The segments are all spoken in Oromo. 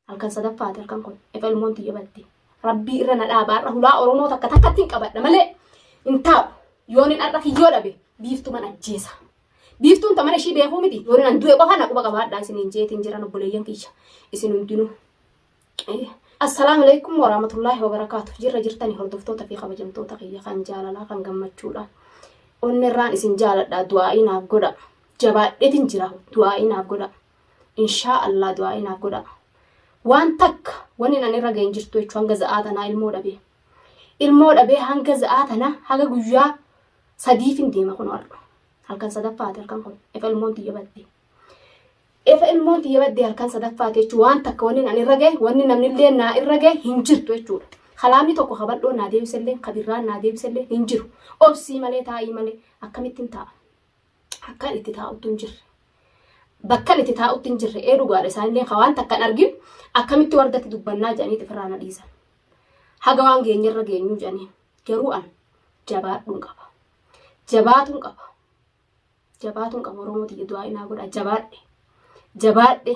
Halkan sadaffaati halkan kun. Efa ilmoon tiyya badde. Rabbii irra na dhaaba har'a hulaa Oromoo takka takkatti hin qabadha malee hin taa'u. Yoonin har'a kiyyoo dhabe biiftuman ajjeesa. Biiftuun tamana ishii beekuu miti. Yoonin an du'e qofa na quba qabaadha isiniin jeetiin jiran obboleeyyan kiyya. Isin hundinuu. Assalaamu alaikum warahmatullaahi wabarakaatu. Jirra jirtanii hordoftoota fi kabajamtoota kiyya kan jaalalaa kan gammachuudha. Onnerraan isin jaaladha du'aa'ii naaf godha. Jabaadheetiin jira du'aa'ii naaf godha. inshaa allah du'aa'ii naaf godhaa waan takka wanni nan irra ga'een jirtu jechuun hanga za'aa tanaa ilmoo dhabee ilmoo dhabee hanga za'aa tanaa haga guyyaa sadiifin deema kun har'a halkan sadaffaati halkan kun efa ilmoon tiyya badde efa ilmoon tiyya badde halkan sadaffaati jechuun waan takka wanni nan irra ga'e wanni namni illee naa irra ga'e hin jirtu jechuudha kalaamni tokko kabadhoo naa deebisellee kabirraan naa deebisellee hin jiru obsii malee taa'ii malee akkamittiin taa'a akkan itti taa'utti hin jirre. Bakkan itti taa'utti hin jirre ee dhugaadha isaanillee ka waan takkan argin akkamitti wardatti dubbannaa jedhanii xifirraa na dhiisan. Haga waan geenyerra geenyuu jedhanii garuu an jabaadhuun qaba. Jabaatuun qaba. Jabaatuun qaba Oromoo tiyya du'aa inaa godha jabaadhe. Jabaadhe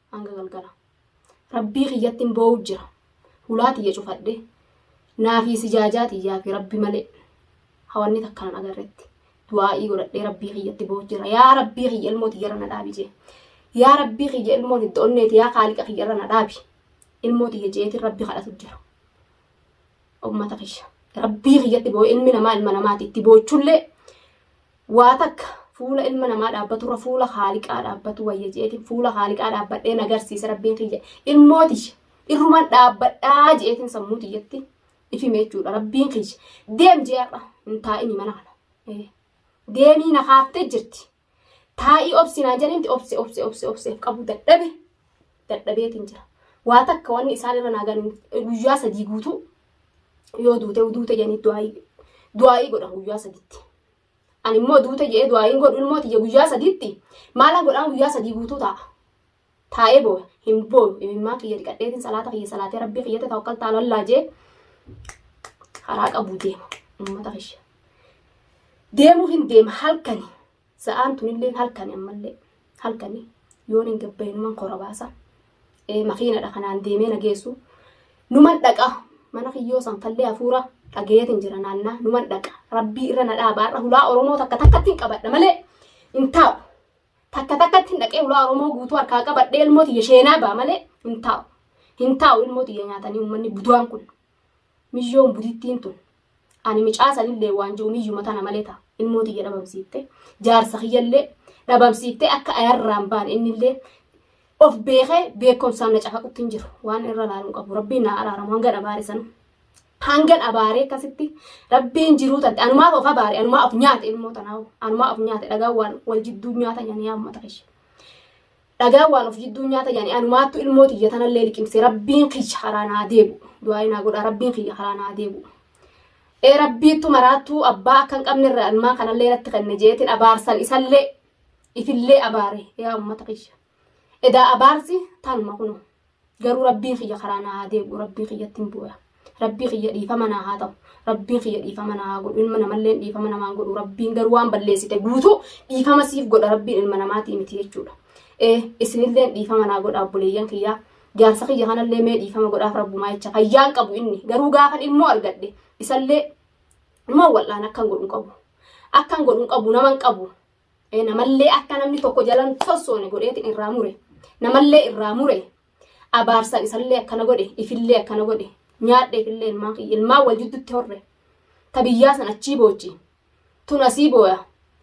hanga galgala rabbii kiyyattin boo'u jira hulaa tiyya cufadhe naafii sijaajaa tiyyaa fi rabbi malee hawanni takkaan agarretti du'aa'ii godhadhee rabbii kiyyatti boo'u jira yaa rabbii kiyya ilmoo tiyyarra na dhaabi jee yaa rabbii kiyya ilmoo tidda onneeti yaa kaaliqa kiyyarra na dhaabi ilmoo tiyya jeetiin rabbi kadhatu jira ummata kiyya rabbii kiyyatti boo'u ilmi namaa ilma namaati itti boochullee Waa takka fuula ilma namaa dhaabbaturra fuula haaliqaa dhaabbatu wayya je'eetiin fuula haaliqaa dhaabbadhee na garsiise rabbiin kiyya ilmoo tiyya irruman dhaabbadhaa je'eetiin sammuu tiyyatti ifime jechuudha rabbiin kiyya deem je'arra hin taa'ini mana kana Eh, deemii na kaaftee jirti taa'ii obsi naan jedhinti obse obse obse obseef qabu dadhabe dadhabeetiin jira waa takka wanni isaan irra naagan guyyaa sadii guutuu yoo duute duute jedhanii du'aayii du'aayii godhan guyyaa saditti Ani immoo duute je'ee du'aa hin godhu ilmoo tiyya guyyaa sadiitti maalan godhaan guyyaa sadii guutuu taa'a. Taa'ee boo'a hin boo'u imimmaan kiyya dhiqadheetiin salaata kiyya salaatee rabbii kiyyatti tawakkal taala allaa jee karaa qabu deema uummata kiyya. Deemuu hin deema halkani sa'aan tunillee halkani ammallee. halkani yoon hin gabbaye numan kora baasa makiinadha kanaan deemee na geessu numan dhaqa mana kiyyoo san fallee hafuura dhagayeetiin jira naannaa numan dhaqa rabbii irra na dhaaba har'a hulaa oromoo takka takkatti hin qabadha malee hin taa'u takka takkatti hin dhaqee hulaa oromoo guutuu harkaa qabadhee ilmoo tiyya sheenaa ba'a malee hin taa'u hin taa'u ilmoo tiyya nyaatanii uummanni buduwaan kun Miyyoon budittiin tun ani micaa sanillee waanjoo miyyuma tana malee ta ilmoo tiyya dhabamsiifte jaarsa kiyyallee dhabamsiiftee akka ayarraan baan innillee of beekee beekomsaan na cafaqutti hin jiru waan irra laaluun qabu rabbiin naa araaramu hangan abaare sanu hangan abaaree akkasitti rabbiin jiruu tante anumaaf of abaare anumaa of nyaate ilmoo tanaawu anumaa of nyaate dhagaa waan wal jidduu nyaata nyanii ammata ishe Dhagaa waan of jidduu nyaata jedhanii anumaattu ilmoo tiyya tanallee liqimse rabbiin kiyya haraa naa deebu. Du'aayii naa godhaa rabbiin kiyya haraa naa deebu. Ee rabbiittu maraattuu abbaa akka hin qabnerra ilmaan kanallee irratti kenne jeetin abaarsan isallee ifillee abaare yaa uummata kiyya. Edaa abaarsi tanuma kunoo. Garuu rabbiin kiyya karaa naa haa deebi'u rabbii kiyyattin booya. Rabbii kiyya dhiifama naa haa ta'u. Rabbiin kiyya dhiifama naa haa godhu. Ilma namalleen dhiifama namaan godhu. Rabbiin garuu waan balleessite guutuu dhiifama siif godha rabbiin ilma namaatii miti jechuudha. Ee isinilleen dhiifama naa godha obboleeyyan kiyyaa. Jaarsa kiyya kanallee mee dhiifama godhaaf rabbumaa jecha fayyaan qabu inni. Garuu gaafan ilmoo argadhe isallee ilmoo wal'aan akkan godhu hin qabu. Akkan godhu hin qabu naman qabu. namallee akka namni tokko jalan sossoone godheetiin irraa mure namallee irraa mure abaarsan isallee akkana godhe ifillee akkana godhe nyaadhe ifillee ilmaan kiyya ilmaan wal jidduutti horre ta biyyaa san achii boochi tun asii booya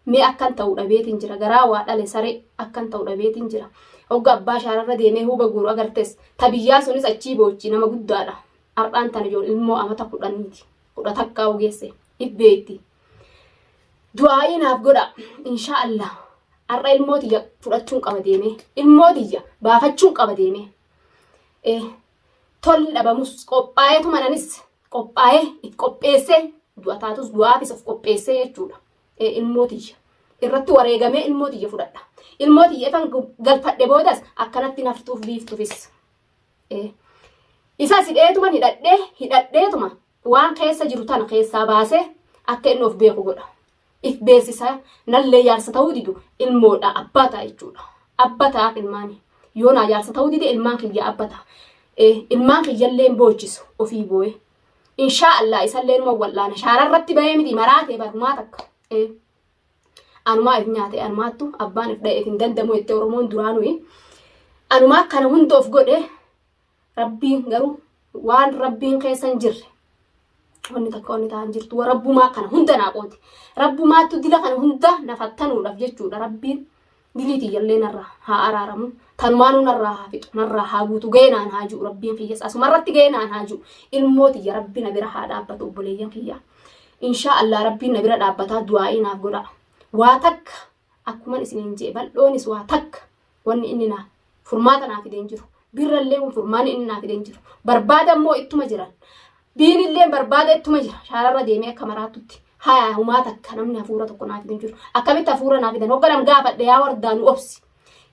mee akkan ta'u dhabeetiin jira garaa waa dhale saree akkan ta'u dhabeetiin jira hogga abbaa shaararra deemee huuba guuru agartes ta biyyaa sunis achii boochi nama guddaadha har'aan tan ijoon ilmoo amata kudhaniiti kudha takkaa ogeesse dhibbeetti du'aa'ii naaf godha inshaa allah har'a ilmoo tiyya fudhachuun qaba deemee ilmoo tiyya baafachuun qaba deemee ee tolli dhabamus qophaa'ee tumananis qophaa'ee if qopheessee du'a taatus du'aafis of qopheessee jechuudha ee ilmoo tiyya irratti wareegamee ilmoo tiyya fudhadha ilmoo tiyya ifan galfadhe boodas akkanatti naftuuf biiftuufis ee isa sidheetuma hidhadhee hidhadheetuma Waan keessa jiru tana keessaa baasee akka inni of beeku godha. If beeksisa nallee jaarsa ta'uu didu ilmoodha abbaa ta'a jechuudha. Abba ta'aaf ilmaani. Yoo naa jaarsa ta'uu dide ilmaan kiyya abba ta'a. Eh, Ilmaan kiyyallee hin boochisu ofii boo'e. Inshaa Allah isallee numa wal'aana. Shaara irratti bahee miti maraatee barumaa takka. Eh, Anumaa if nyaate anumaattu abbaan if dha'eef hin danda'amu jettee Oromoon duraa nuyi. Anumaa kana hunda of godhe Rabbiin garuu waan rabbiin keessa hin jirre wanni takka wanni ta'an jirtu wa rabbumaa kana hunda naa qooti rabbumaattu dila kana hunda na fattanuudhaaf jechuudha rabbiin dilii tiyyallee narraa haa araaramu tanumaanuu narraa haa fixu narraa haa guutu ga'ee naan haa jiru rabbiin kiyyas asuma irratti ga'ee naan haa jiru ilmoo tiyya rabbi na bira haa dhaabbatu obboleeyyan kiyya inshaa allah rabbiin na bira dhaabbataa du'aa'ii naaf godha waa takka akkuman isiniin jee bal'oonis waa takka wanni inni naa furmaata naa fideen jiru birrallee kun furmaanni inni naa fideen jiru barbaada immoo ittuma jiran diinillee barbaada ittuma jira shaararra deemee akka maraattutti haya humaa takka namni hafuura tokko naa fideen jiru akkamitti hafuura naa fidan hogganan gaafadhe yaa wardaa nu obsi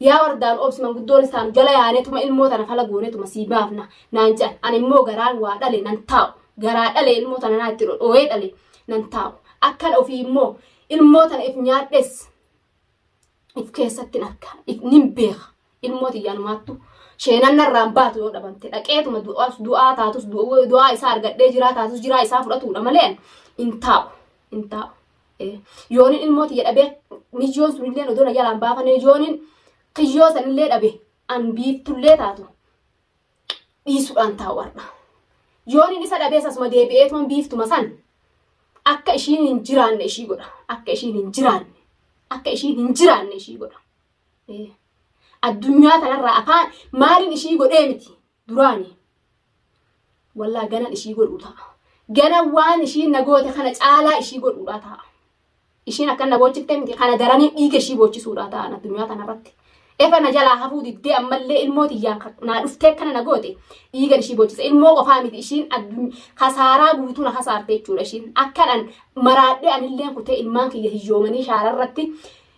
yaa wardaa nu obsi manguddoon isaan jala yaanetuma ilmoo tana fala goonetuma sii baafna naan jedhan ani immoo garaan waa dhale nan taa'u garaa dhale ilmoo tana naa itti dhodhooyee dhale nan taa'u akkan ofii immoo ilmoo tana if nyaadhes if keessatti arka if nin beeka ilmoo tiyyaan maattu sheenan narraan baatu yoo dhabamte dhaqeetuma du'aa taatus du'aa isaa argadhee jiraa taatus jiraa isaa fudhatuudha malee hin taa'u hin taa'u yoonin ilmoo tiyya dhabee miyyoon sunillee odoo na jalaan baafane yoonin kiyyoo sanillee dhabe an biiftullee taatu dhiisuudhaan taa'u har'a. Yoon inni isa dhabees asuma deebi'ee tuman biiftuma san akka ishiin hin jiraanne ishii godha. Akka ishiin hin jiraanne. Akka ishiin hin jiraanne ishii godha. Ee. Addunyaa kanarraa afaan maaliin ishii godhee miti duraani. Wallaa ganan ishii godhuu ta'a. Ganan waan ishiin na goote kana caalaa ishii godhuudhaa ta'a. Ishiin akkan na boochiftee miti kana daranii dhiiga ishii boochisuudha ta'an addunyaa tanarratti. Efa na jalaa hafuu diddee ammallee ilmoo tiyyaan naa dhuftee akkana na goote dhiigan ishii boochisa. Ilmoo qofaa miti ishiin kasaaraa guutuu na kasaarte jechuudha ishiin. Akkanan maraadhee anilleen kutee ilmaan kiyya hiyyoomanii shaararratti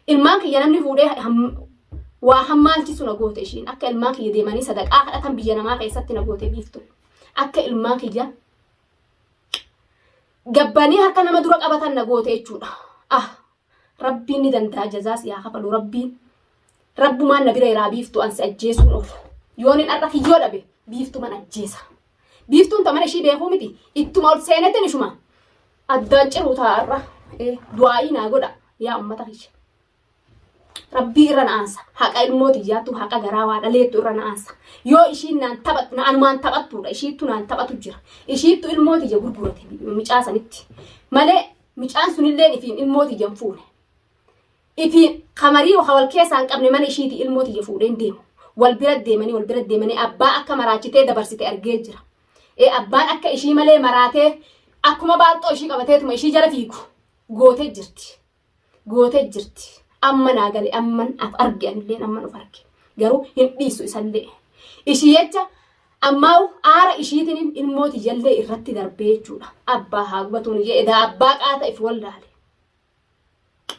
ilmaan kiyya namni fuudhee waa hammaalchisu na goote ishiin akka ilmaan kiyya deemanii sadaqaa kadhatan biyya namaa keessatti na goote biiftu akka ilmaan kiyya gabbanii harka nama dura qabatan na goote jechuudha. Ah rabbiin ni danda'a jazaa si haa kafalu rabbiin. Rabbumaan na bira iraa biiftu ansi ajjeesuun oofu. Yoon hin har'a kiyyoo dhabe biiftuman ajjeesa. Biiftuun ta mana ishii beekuu miti ittuma ol seenetti nishuma. Addaan ciruu taa'arra du'aa'ii naa godha yaa ummata kiyya. Rabbii irra na aansa. Haqa ilmoo tiyyaattu haqa garaa waa dhaleettu irra na aansa. Yoo ishiin naan taphattu na anumaan taphattuudha. Ishiittu naan taphatu jira. Ishiittu ilmoo tiyya gurgurate micaa sanitti. Malee micaan sunilleen ifiin ilmoo tiyya hin fuune. Ifiin kamarii wal keessaa hin qabne mana ishiiti ilmoo tiyya fuudhee hin deemu. Wal bira deemanii wal bira deemanii abbaa akka maraachitee dabarsite argee jira. Ee abbaan akka ishii malee maraatee akkuma baalxoo ishii qabateetuma ishii jala fiigu gootee jirti. gootee jirti. Amma naa gale amman af arge anilleen amman of arge. Garuu hin dhiisu isallee. Ishii jecha ammaa aara ishiitiin ilmoo tiyyallee irratti darbee jechuudha. Abbaa haa gubatuun jee edaa abbaa qaata if wallaale.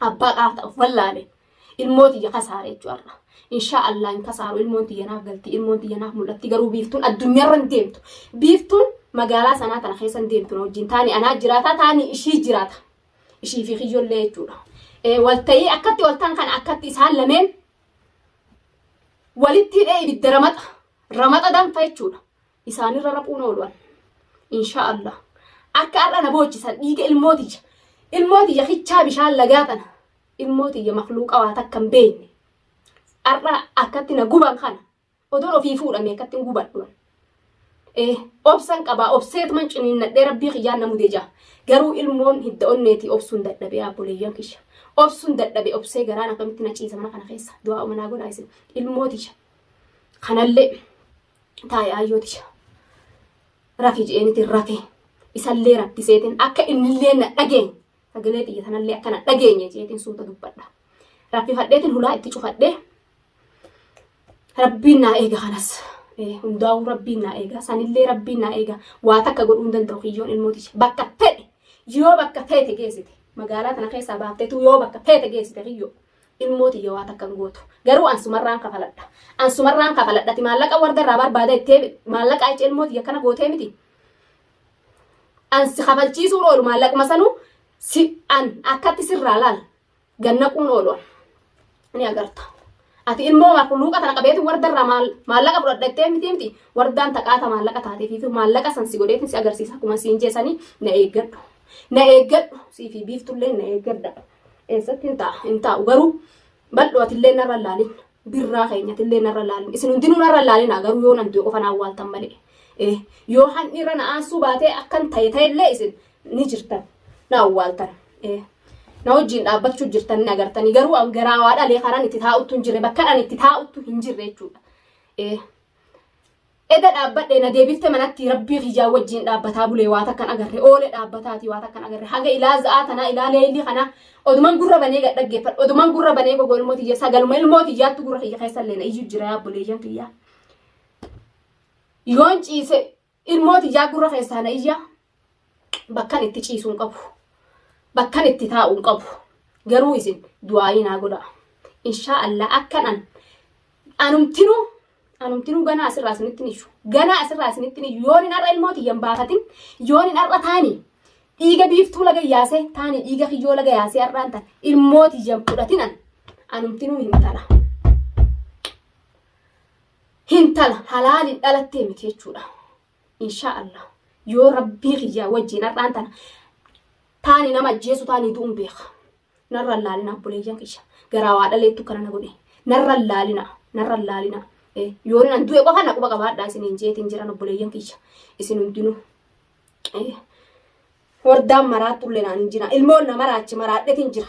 Abbaa qaata of wallaale. Ilmoo tiyya kasaare jechuudha. Inshaa Allah hin kasaaru ilmoon tiyya naaf galti ilmoon tiyya naaf mul'atti garuu biiftuun addunyaarra hin deemtu. Biiftuun magaalaa sanaa tana keessa hin deemtu na wajjin taani anaa jiraata taani ishii jiraata. ishii fi kiyyollee jechuudha. Walta'ii akkatti waltaan kana akkatti isaan lameen walitti hidhee ibidda ramaxa ramaxa danfa jechuudha. Isaanirra raphuun oolu'an. Inshaa Allah. Akka har'a na boochisan dhiiga ilmootiyya. Ilmootiyya hichaa bishaan lagaa tana. Ilmootiyya makluuqa waa takka hin beekne. Har'a akkatti na guban kana Odoon ofii fuudha meeqattin gubadhu. Ee, obsan qabaa, obseetuman ciniinnadhee rabbii kiyyaan na mude ja'a. Garuu ilmoon hidda onneetii obsuun dadhabe yaa obboleeyyan kiyya. Obsuun dadhabe obsee garaan akkamitti na ciisa mana kana keessa. Du'aa umanaa godhaa isin. Ilmoo tiyya. Kanallee taa'e aayyoo tiyya. Rafi je'eenitiin rafe. Isallee rakkiseetiin akka innillee na dhageenye. Sagalee tiyya tanallee akka na dhageenye jeetiin suuta dubbadha. Raffifadheetiin hulaa itti cufadhee Rabbiin naa eega kanas. Hundaa'uu rabbiin naa eega. Sanillee rabbiin naa eega. Waa takka godhuu hin danda'u kiyyoon ilmootichi. Bakka fedhe yoo bakka feete geessite magaalaa tana keessaa baafteetu yoo bakka feete geessite kiyyoo ilmoo tiyya waa takka hin gootu. Garuu ansumarraan kafaladha. Ansumarraan kafaladhati maallaqa warda irraa barbaada ittee maallaqa achi ilmoo tiyya kana gootee miti. Ansi kafalchiisuu oolu maallaqma sanuu si an akkatti sirraa laal gannaquun oolu ni agarta. Ati ilmoo luuqa tana qabeetu wardarraa maallaqa fudhadha jettee miti miti wardaan taqaata maallaqa taatee fi maallaqa san si godheetiin si agarsiisa akkuma siin jeesanii na eeggadhu. Na eeggadhu sii fi biiftullee na eeggadha. Eessatti hin ta'a hin taa'u garuu bal'oo atillee narra laalin birraa keenyatillee narra laalin isin hundinuu narra laalin garuu yoo nan du'e qofa naa waaltan malee. Yoo handhiirra na aansuu baatee akkan ta'e ta'ellee isin ni jirtan na awwaaltan ee, na wajjin dhaabbachuu jirtan ni agartanii garuu an garaa waa dhalee kanan itti taa'uttu hin jirre bakka an itti taa'uttu hin jirre jechuudha. Ee, Eda dhaabbadhe na deebifte manatti rabbii kiyyaa wajjin dhaabbataa bulee waa takkan agarre oole dhaabbataati waa takkan agarre haga ilaa za'aa tanaa ilaa leeyilii kanaa oduman gurra banee gad dhaggeeffadhu oduman gurra banee gogo ilmoo tiyya sagaluma ilmoo tiyyaattu gurra kiyya keessa illee na iyyuu jira yaa buleeyyan tiyyaa. Yoon ciise Ilmoo tiyyaa gurra keessaa na iyya. Bakkan itti ciisu hin qabu. Bakkan itti taa'u hin qabu. Garuu isin du'aayii naa godha. Inshaa Allah akkan an anumtinuu anumtinuu ganaa asirraa isinitti hin iyyu. Ganaa asirraa isinitti hin iyyu. Yoon hin har'a ilmoo tiyya hin baafatin yoon hin har'a taani dhiiga biiftuu laga yaasee taani dhiiga kiyyoo laga yaasee har'aan tan ilmoo tiyya hin fudhatin an anumtinuu hin tala. hintala halaaliin dhalattee miti jechuudha. Inshaa Allah yoo rabbii kiyyaa wajjin har'aan tana taani nama ajjeesu taanii du'uun beeka. Narra hin laalina obboleeyyan kiyya. Garaa waa dhaleettu kana na godhe. Narra hin laalina. Narra hin laalina. Eh, Yoo nan du'e qofa na quba qabaadhaa isiniin jeetiin jiran obboleeyyan kiyya. Isin hundinuu. Eh, Hordaan maraattu illee naan hin jira. Ilmoon na maraachi maraadheetiin jira.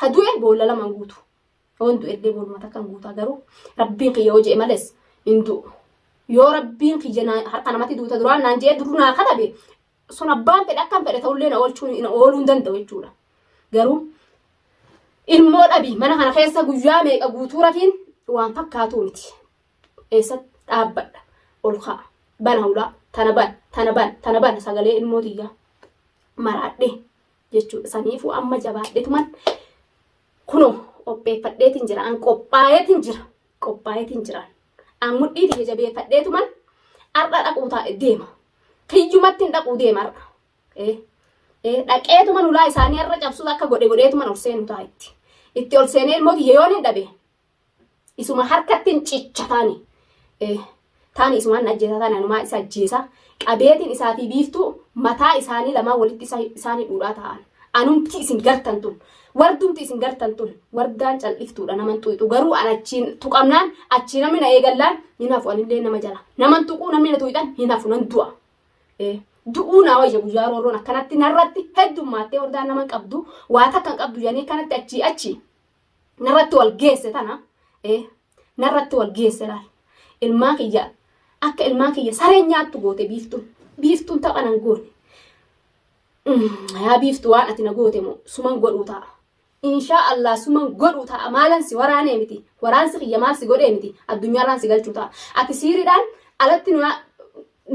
Ha du'e boolla lamaan guutu. Yoon du'e illee booluma takkaan guutaa garuu rabbiin kiyya yoo je'e males hin du'u. Yoo rabbiin kiyya naa- harka namatti duuta duraan naan je'ee duruu naa katabe sun abbaan fedhe akkam fedhe ta'ullee na oolchuu na ooluu hin danda'u jechuudha. Garuu ilmoo dhabi mana kana keessa guyyaa meeqa guutuu rafiin waan fakkaatuu miti. Eessatti dhaabbadha ol ka'a bana hulaa tana bana tana bana tana bana sagalee ilmoo tiyyaa maraadhee jechuudha. Saniifuu amma jabaadhetuman kunoo qopheeffadheetiin jira. An qophaa'eetiin jira. Qophaa'eetiin jira. An mudhii tiyya jabeeffadheetuman har'a dhaquu taa'e deema. Kiyyumatti hin dhaquu deema har'a. Eh, eh, dhaqeetuman ulaa isaanii har'a cabsuus akka godhe godheetuman ol seenu taa'a itti. Itti ol seenee ilmoo tiyya yoon hin dhabe Isuma harkattiin cicha taani. Taani isumaan ajjeesaa taani anumaa isa ajjeesaa. Qabeetiin isaa fi biiftuu mataa isaanii lamaan walitti isaanii dhuudhaa ta'an. Anumti isin gartan tun. Wardumti isin gartan tun. Wardaan caldhiftuudha naman xuyxu. Garuu an achiin tuqamnaan achii namni na eegallaan hin hafu anillee nama jala. Naman tuquu namni na tuyxan hin hafu nan du'a. Du'uu naa wayya guyyaa roorroon akkanatti narratti heddummaattee wardaan naman qabdu waa takkan qabdu jedhanii akkanatti achii achii. narratti wal geesse tana ee narratti wal geesse laal ilmaa kiyya akka ilmaa kiyya saree nyaattu goote biiftuun biiftuun tapha nan goone yaa biiftu waan ati na goote moo suman godhuu ta'a inshaa allah suman godhuu ta'a maalan si waraanee miti waraansi kiyya maal si godhee miti addunyaarraan si galchuu ta'a ati siiriidhaan alatti nu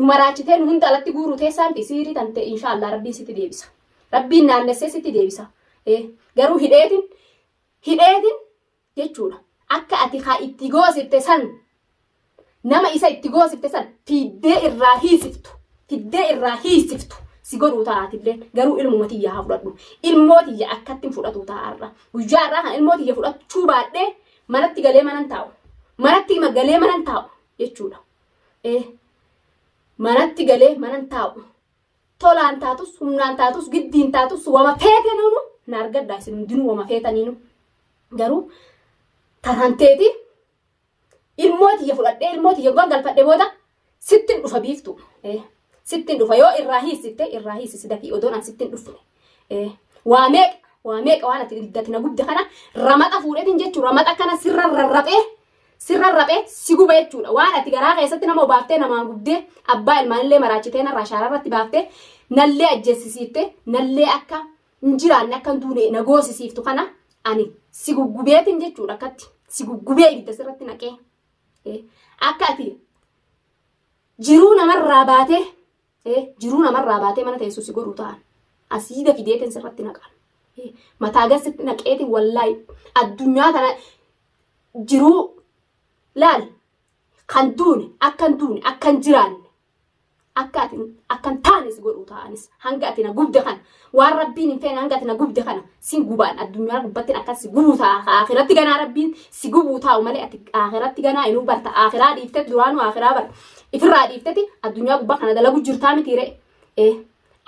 maraachitee nu hunda alatti guuruu teessaan fi siirii tante inshaa allah rabbiin sitti deebisa Rabbiin naannessee sitti deebisa. Garuu hidheetin hidheetin jechuudha. Akka ati haa itti goosifte san nama isa itti goosifte san fiiddee irraa hiisiftu fiddee irraa hiisiftu si godhuu ta'aatillee garuu ilmuma tiyya haa fudhadhu ilmoo tiyya akkattiin fudhatu ta'aarra guyyaa irraa kan ilmoo tiyya fudhachuu baadhee manatti galee manan taa'u manatti galee manan taa'u jechuudha. Manatti galee manan taa'u Tolaan taatus, humnaan taatus, giddiin taatus, wama feetenuunu na argadhaa isin hundinuu wama feetaniinu. Garuu taraan teeti ilmoo tiyya fudhadhee ilmoo tiyya dhugaa galfadhe booda sittin dhufa biiftu. Eh, Sittin dhufa yoo irraa hiisitte irraa hiisisi dafii odoon an sittin dhufne. Eh, Waa meeqa waa meeqa waan ati diddati na gubde kana ramaxa fuudhetiin jechuun ramaxa kana sirra rarraphee sirra raphe si gube jechuudha waan ati garaa keessatti nama obaaftee namaa gubdee abbaa ilmaanillee maraachitee narraa shaara irratti baaftee nallee ajjeessisiifte nallee akka hin jiraanne akka hin duune na goosisiiftu kana ani si guggubeetin jechuudha akkatti si guggubee ibidda sirratti naqee akka ati jiruu namarraa baatee Ee, jiruu namarraa baatee mana teessu si godhu ta'an. Asiida fideetiin sirratti naqan. Ee, Mataa gad sitti naqeetiin wallaahi addunyaa tana jiruu laal kan duune akka hin duune akka hin jiraanne akka ati akka hin taane si godhu ta'anis hanga ati na gubde kan Waan rabbiin hin feene hanga ati na gubde kana sin gubaan addunyaa gubbattin akkas si gubuu ta'a ka akhiratti ganaa rabbiin si gubuu taa'u malee ati akhiratti ganaa inuu barta akhiraa dhiiftet duraanuu akhiraa bar ifirraa dhiifteti addunyaa gubbaa kana dalagu jirtaa miti ree ee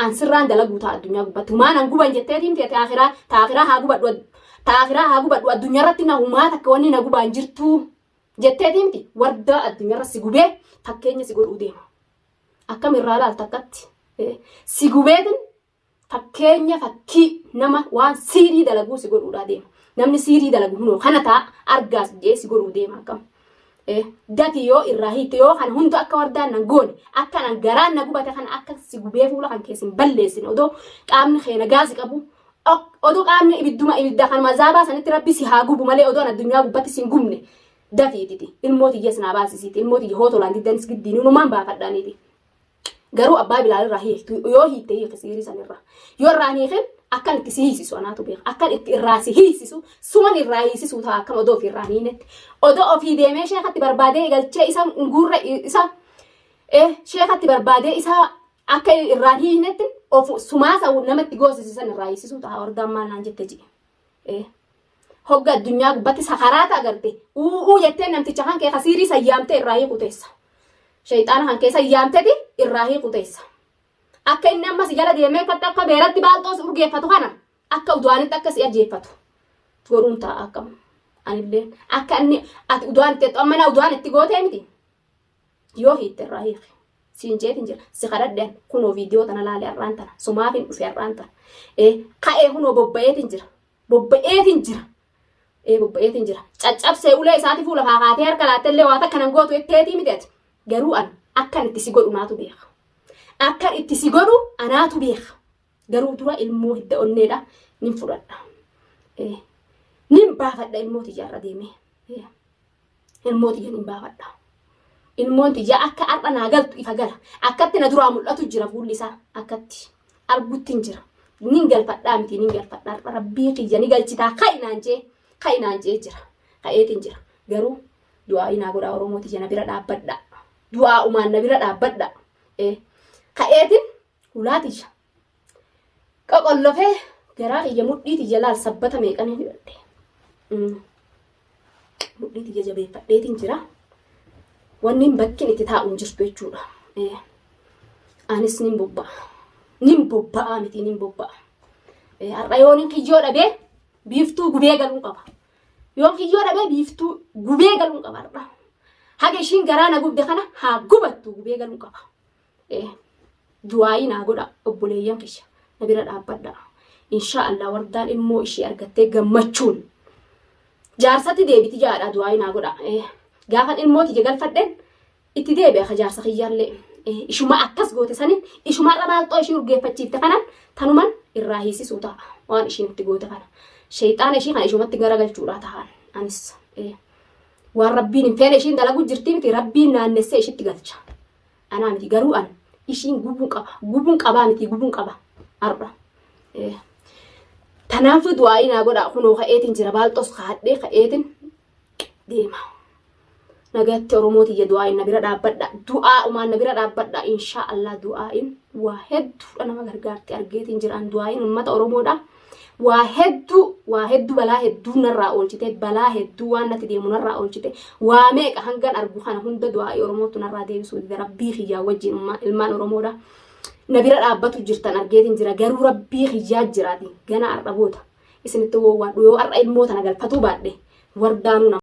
an sirraan dalaguu ta'a addunyaa gubbatti humaan an guban jetteetiin feete akhiraa ta akhiraa haa gubadhu ad- ta akhiraa haa gubadhu addunyaa irratti na humaa takka wanni na gubaan jirtuu jetteetiin miti wardaa addunyaa irra si gubee fakkeenya si godhuu deema. Akkam irraa ilaalta akkatti si gubeetin fakkeenya fakkii nama waan siirii dalaguu si godhuudhaa deema. Namni siirii dalagu hunoo kana ta'a argaas jee si godhuu deema akkam. Gati yoo irraa hiikke yoo kana hundu akka wardaan nan goone akka nan garaan na gubate kana akka si gubee fuula kan keessin balleessin odoo qaamni kee nagaa si qabu odoo qaamni ibidduma ibidda kan mazaabaa sanitti rabbi si haa gubu malee odoo addunyaa gubbatti si hin gubne dafii didi ilmoo tiyyas naa baasisiiti ilmoo tiyya hoo tolaan diddanis giddiin inumaan baafadhaaniiti garuu abbaa bilaal irraa hiiktu yoo hiitte hiike siirii san irraa yoo irraa hiiken akkan itti si hiisisu anaatu beeka akkan itti irraa si hiisisu suman irraa hiisisu ta'a akkam odoo ofii irraa hiinetti odoo ofii deemee sheekatti barbaadee galchee isa guurra isa eh sheekatti barbaadee isa akka irraa hiinetti of sumaasa namatti goosisisan irraa hiisisu ta'a hordaan maal naan jette ji'i. Hogga addunyaa gubbatti sakaraata agarte uuu jettee namticha kan kee kasiirii sayyaamtee irraa hiiku teessa. Shayxaana kan kee sayyaamteti irraa hiiku teessa. Akka inni amma si jala deemee kan akka beeratti baalxoo si urgeeffatu kana akka udu'aanitti akka si ajjeeffatu godhuun ta'a akkam. Anillee akka inni ati udu'aan itti jettu amma na udu'aan itti gootee miti. Yoo hiitte irraa hiiki. Siin jeetiin jira. Si kadhadhe an kunoo viidiyoo tana laale har'aan tana. Sumaafin dhufe har'aan tana. Ee ka'ee kunoo bobba'eetiin jira. Bobba'eetiin jira. Ee bobba'eetiin jira. Caccabsee ulee isaati fuula kaakaatee harka laattee illee waan akka nan gootu jetteetii miti ati. Garuu an akkan itti si godhu naatu beeka. Akkan itti si godhu anaatu beeka. Garuu dura ilmoo hidda onneedha. Nin fudhadha. Ee nin baafadha ilmoo tiyyaarra deemee. ilmoo tiyya nin baafadha. Ilmoon tiyya akka har'a naa galtu ifa gala. Akkatti na duraa mul'atu jira fuulli isaa akkatti arguttin jira. Nin galfadhaa miti nin galfadha har'a rabbii kiyya ni galchitaa ka'i naan jee ka'i naan jee jira. Ka'eetiin jira. Garuu du'aa inaa godhaa Oromoo tiyya na bira dhaabbadha. Du'aa umaan na bira dhaabbadha. Ka'eetiin Hulaa tiyya. Qoqollofee garaa kiyya mudhii tiyya laal sabbata meeqan hin hidhadhe. Mm. Mudhii tiyya jabeeffadheetiin jira. Wanni hin bakkin itti taa'u hin jirtu jechuudha. Eh. Anis nin bobba'a. Nin bobba'a miti nin bobba'a. Eh, Har'a yoo nin kiyyoo dhabee biiftuu gubee galuun qaba. Yoo kiyyoo dhabee biiftuu gubee galuun qaba har'a. Haga ishiin garaa na gubde kana haa gubattu gubee galuun qaba. Eh, du'aa'ii naa godha obboleeyyan kiyya na bira dhaabbadha inshaa allah wardaan ilmoo ishii argattee gammachuun jaarsatti deebiti jaadha du'aa'ii naa godha eh, gaafan ilmoo tiyya galfadhen itti deebi'a ka jaarsa kiyyaallee eh, ishuma akkas goote sanin ishuma irra maalxoo ishii urgeeffachiifte kanan tanuman irraa hiisisuu ta'a waan ishiin itti goote kana sheeyxaana ishii kana ishumatti garagalchuudhaa ta'an anis eh, waan rabbiin hin feene ishiin dalaguu jirtii miti rabbiin naannessee ishitti galcha. Anaa miti garuu an ishiin gubuun qaba. Gubuun qabaa miti gubuun qaba. Har'a. Eh. Tanaafuu du'aa'ii naa godhaa kunoo ka'eetiin jira baalxoos kaadhee ka'eetiin deema. Nagatti Oromoo tiyya du'aa'iin na bira dhaabbadha. Du'aa umaan na bira dhaabbadha. Inshaa Allah du'aa'iin waa hedduudha nama gargaarti argeetiin jira. An du'aa'iin uummata Oromoodha. waa hedduu waa hedduu balaa hedduu narraa oolchite balaa hedduu waan natti deemu narraa oolchite waa meeqa hangan argu kana hunda du'aa'ii oromootu narraa deebisuu dide rabbii kiyyaa wajjin ummaa ilmaan oromoodha na bira dhaabbatu jirtan argeetiin jira garuu rabbii kiyyaa jiraati gana har'a boota isinitti wowwaadhu yoo har'a ilmoo tana galfatuu baadhe wardaanuu nama